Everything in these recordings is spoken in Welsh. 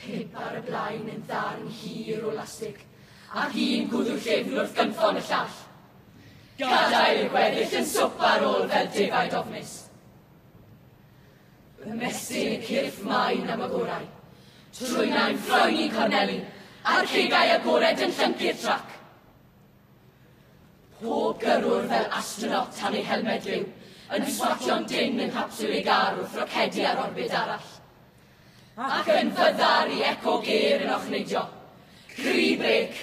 Pump ar y blaen yn ddarn hir o lastig, ac un gwddw llyfn wrth gynffon y llall. Gadael y gweddill yn swp ar ôl fel defaid ofnus. Ymestyn y cyrff maen am y gorau. Trwynau'n ffroen i'n corneli, a'r cegau agored yn llyncu'r trac. Pob gyrrwr fel astronaut tan ei helmed liw, yn swatio'n dyn yng nghapsiwl ei gar wrth rocedi ar orbyd arall. ac yn fyddar i eco gêr yn ochnidio, cri brêc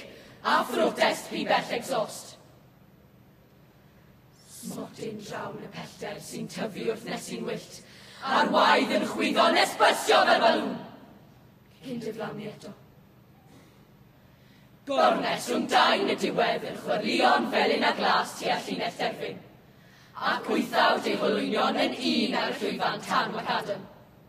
a phrotest pibell egsost. Smotyn drawn y pellter sy'n tyfu wrth nesi'n wyllt, a'r waed yn chwyddo nes bysio fel balŵn. Cyn diflannu eto. Gornes rhwng dain y diwedd yn chwyrlio'n felyn a glas tua llinell derfyn, ac wythawd ei holwynion yn un ar y llwyfan tan Wacadam.